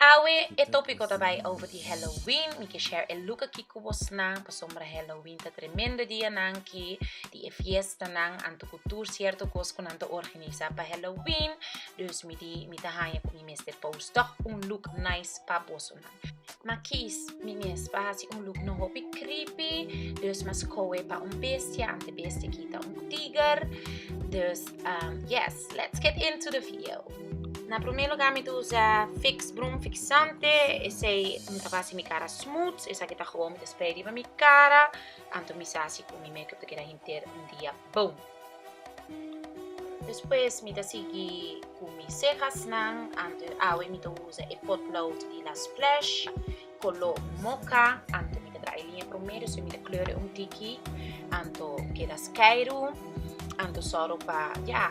Awe e tópiko ta bai over di Halloween. Mi ke share e luk aki ku bosnan pasobra Halloween ta tremendo dianan ki di e fiestanan anto ku tur sierto kos ku nan ta organisá pa Halloween. Dus mi di mi ta haña ku mi mes te post tòg un luk nice pa bosonan. Ma kies mi mes pa hasi un luk no hopi creepy, dus mi a skohe pa un bestia anto e bestia kita un tiger. Dus yes, let's get into the video. Na primer lugar mi ta usa fix broom fixante esei mi ta basi mi cara smooth esaki ta gewoon mi ta spray riba mi cara anto mi sa si cu mi makeup ta keda henter un dia bon despues mi ta sigui cu mi cehasnan anto awe mi ta usa e potlood di la splash color mocha anto mi ta traha e linea promer despues mi ta kleur un tiki anto keda skyroom anto soro pa ya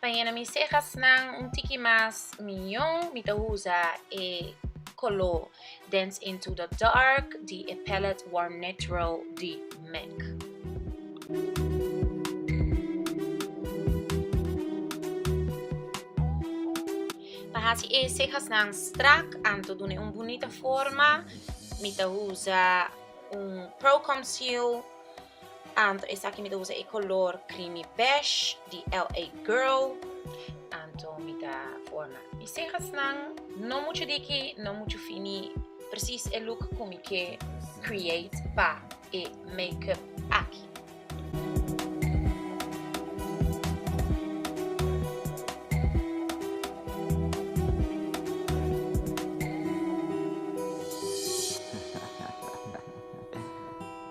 Pa yena mi cehasnan un tiki mas miyon, mi ta usa e koló Dance Into The Dark di e palette Warm Natural di MAC. Pa hasi e cehasnan strak anto dun'e un bunita forma, mi ta usa un Pro Conceal Anto esaki mi ta usa e color creamy beige di LA Girl. Anto mi ta forma mi cehasnan, no mucho diki, no mucho fini, precies e look cu mi ke create pa e makeup aki.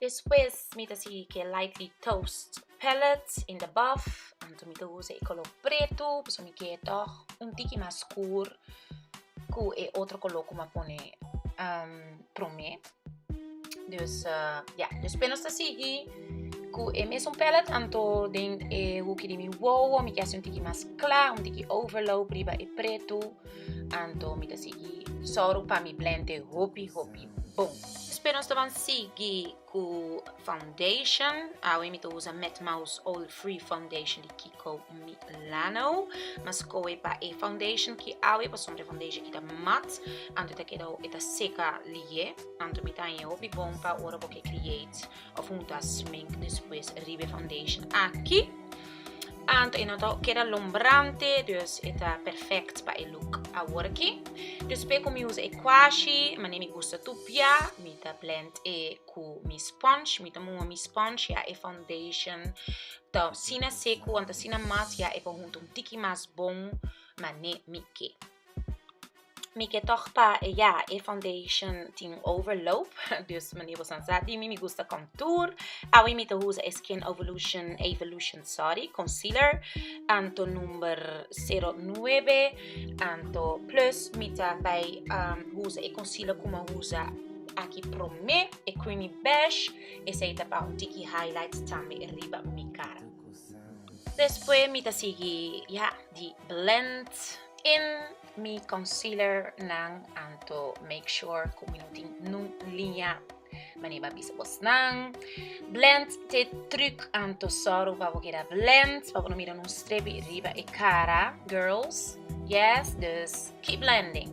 Despues mi ta sigui cu e lightly toast pallet in the buff anto mi ta usa e color preto pasobra mi kier toch un tiki mas scuur cu e otro color cu mi a pone prome dus ya despues nos ta sigui cu e mesun pallet anto den e hoekie di mi wowo mi kier haci un tiki mas cla un tiki overlope riba e preto anto mi ta sigui sorry pa mi blend e hopi hopi Bon, spero nos ta ban sigui ku foundation. Awe mi ta usa Met Mouse Oil Free Foundation di Kiko Milano. Mi a skohe pa e foundation ki awe pasobra e foundation ki ta mat, anto e ta keda hopi, e ta seka lihé. Anto mi ta haña hopi bon pa ora bo ke create. of un ta smink despues ribe foundation aki anto e no ta keda lombrante dus e ta perfect pa e look aworki despues ku mi usa e kwashi mane mi gusta tupia mi ta blend e ku mi sponge mi ta muha mi sponge ya e foundation ta sina seku wan ta sina mas ya e konhunto un tiki mas bon mane mi ke. Mi ke tòg pa e ya, e foundation tin overloop, dus mane bosan sa di mi, mi gusta contour. Awe mi ta usa e Skin Evolution, Evolution, sorry, concealer, anto number 09, anto plus mi ta bai um, usa e concealer ku mi a usa aki promé, e creamy beige, esei ta pa un tiki highlights tambe riba mi cara. Despues mi ta sigui ya di blend, In mi concealer nan anto make sure cu mi no tin nun liña mane ba bisa bos nan blend te truc anto soro pa bo keda blend pa bo no mira nun strepi riba e cara girls yes dus keep blending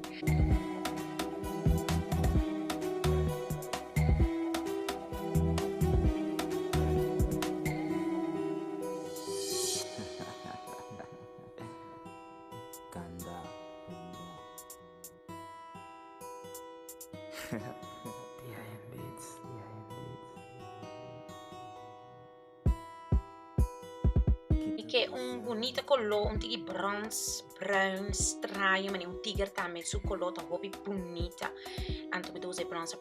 kanda Mi ke un bunita koló, un tiki brons, bruin, straño, mane un tiger tambe su koló ta hopi bunita. Anto mi ta usa e brons.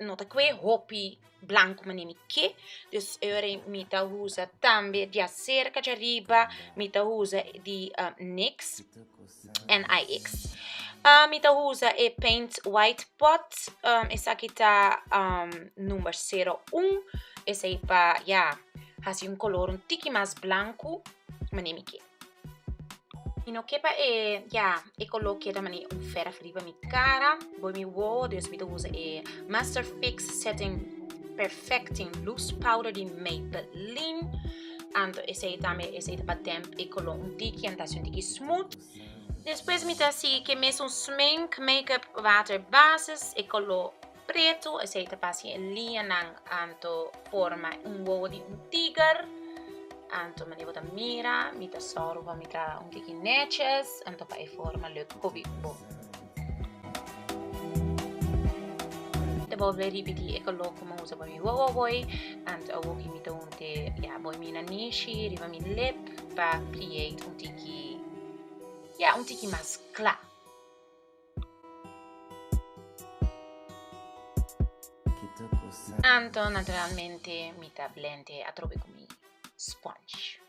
no ta kue hopi blanco mane mi ke dus ere mi ta usa tambe dia cerca dja riba mi ta usa di uh, nix en ix uh, mi ta usa e paint white pot um, esaki ta um, number 01 esai pa ya yeah, hasi un color un tiki mas blanco mane mi ke Mi no ke pa e, ya, e koló keda manera un fera riba mi kara, bo mi wowo, dus mi ta usa e Master Fix Setting Perfecting Loose Powder di Maybelline, anto esei tambe, esei ta pa damp e koló un tiki, an ta hasi un tiki smooth. Despues mi ta hasi ke mes un smink, makeup, water basis, e koló pretu, esei ta pasa e liñanan anto forma un wowo di un tiger, anto manera bo ta mira, mi ta sòru pa mi ta un tiki nètjes, anto pa e forma lo kobi ku bo. Ta bolbe ripití e koló ku mi usa pa mi wowo aboi, anto awoki mi ta un te ya bo mi na nishi riba mi lip pa create un tiki, ya un tiki mas kla. Anto naturalmente mi ta blende atrobe ku mi sponge.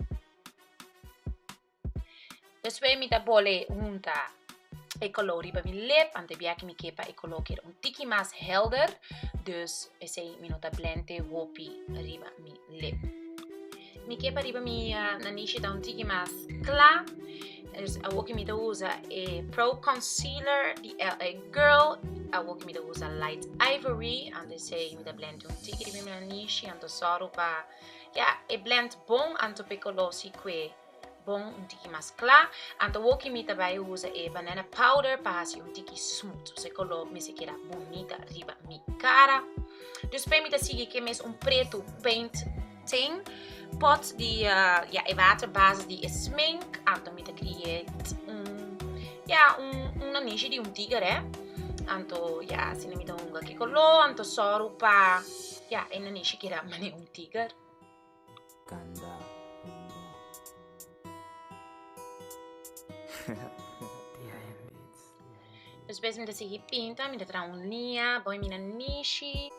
Despues mi ta bole hunta e kolor riba mi lep, ante bia ku mi ke pa e kolor keda un tiki mas helder, dus esei mi no ta blende hopi riba mi lep. Mi ke pa riba mi nanishi ta un tiki mas kla. Dus awoki mi ta usa e Pro Concealer di LA Girl. Awoki mi ta usa Light Ivory. Anto esei mi ta blend un tiki riba mi nanishi. Anto sòru pa ya e blend bon anto pe kolosi kue bon un tiki mas kla. Anto awoki mi ta bai usa e Banana Powder pa hasi un tiki smooth. Su koló mester keda bunita riba mi kara. Dus p'e mi ta sigui ke mes un pretu paint. Tin pot di ya e water base di e smink anto mi ta create un ya un un nanishi di un tiger eh anto ya si mi ta hunga ki color anto soru pa ya e nanishi keda mane un tiger. Kanda hunga. Despues mi ta sigui pinta, mi ta traha un liña, bo i mi na nishi.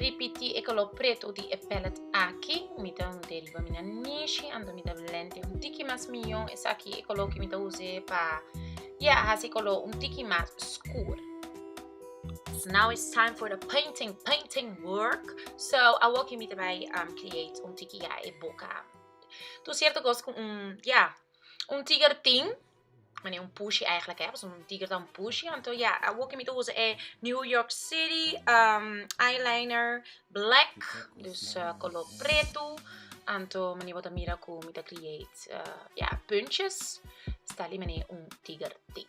ripiti e color preto di e palette aki mi ta hunde riba mi na nishi anto mi ta blende un tiki mas miyon esaki e color ki mi ta use pa ya hasi color un tiki mas scur So now it's time for the painting, painting work. So a walk in mita bay um, create un tiki ya e boca. Tu cierto cos con un, ya, un tiger ting. Mane un pushy eigenlijk, hè. So un tiger dan pushy. En toen, ja, a walk in mita usa e New York City um, eyeliner black. Dus uh, color preto. En toen, mane wat mira ku mita create, uh, ja, puntjes. Stali mane un tiger ting.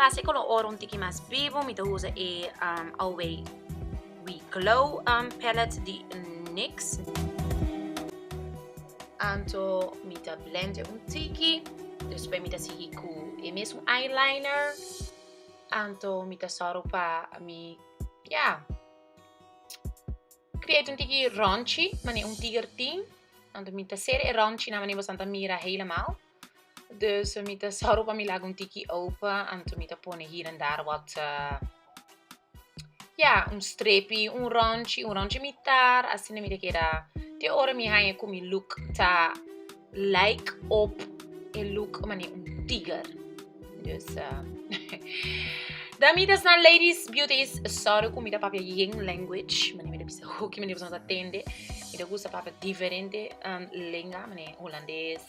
Pa hasi ku lo ora un tiki mas bibu mi ta usa e awei. We glow um palette di nix. Anto mi ta blend un tiki. Despues mi ta sigui cu e mesun eyeliner. Anto mi ta soro pa mi ya create un tiki ronchi mane un tiger tin. Anto mi ta ser e ronchi nan mane boso nan ta mira helemaal. Dus mi ta sorgo pa mi laga un tiki open, anto mi ta pone hier en daar wat, uh, ja, un strepi, un rondje, un rondje mitar, asina mi ta keda, te ora mi haña ku mi look ta like op e look mane un tiger. Dus, uh, dan mi ta sna ladies beauty is sorry ku mi ta papia Ying language, mane mi ta bisa hoki mane pasobra mi ta tende, mi ta gusta papia diferente, um, lenga, mane hulandes,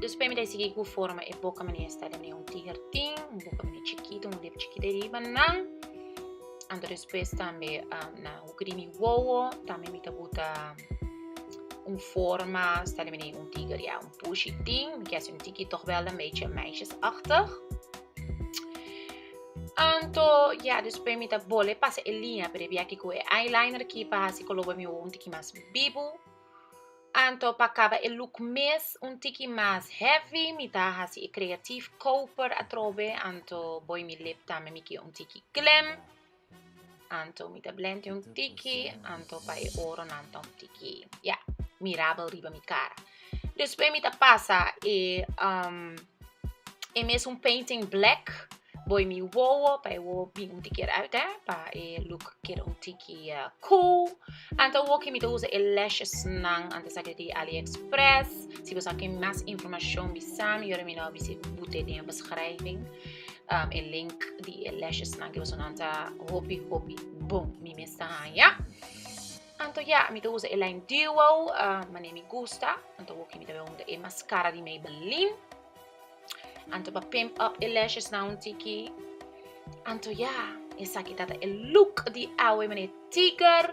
Dus pé mi ta sigui ku forma e boka mi na esta den e un tiger tin un boka mi na chikito un lep chikito e riba nan anto despues tambe na hugri mi wowo tambe mi ta buta un forma sta den un tiger ya Pushi tin, mi kier si un tiki toch wel een beetje meisjesachtig. Anto, ja, después mi ta bole pasa e linea prebi aki cu e eyeliner ki pa hasi color bo mi ojo un tiki mas bibu. Anto, pa caba e look mes un tiki mas heavy, mi ta hasi e creatief koper atrobe. Anto, boy mi lip tambe mi kier un tiki glam. Anto mi ta blente un tiki, anto pa e oro nan ta un tiki ya mirabel riba mi cara. Despues mi ta pasa e um, e mes un painting black boy mi wowo pa e wowo bin un tiki eruit eh, pa e look keda un tiki uh, cool. Anto woki mi ta usa e lashes nan anto saki di AliExpress. Si bosa ken mas informacion bisami, yora mi no a bisi bute den beschrijving. um, e link di e lesjesnan ke bosonan ta hopi hopi bon mi mes ta haya anto ya mi ta usa e line duo uh, mane mi gusta anto woki mi ta usa e mascara di Maybelline anto pa pimp up e lashes na un tiki anto ya esa kita ta e look di awe mane tiger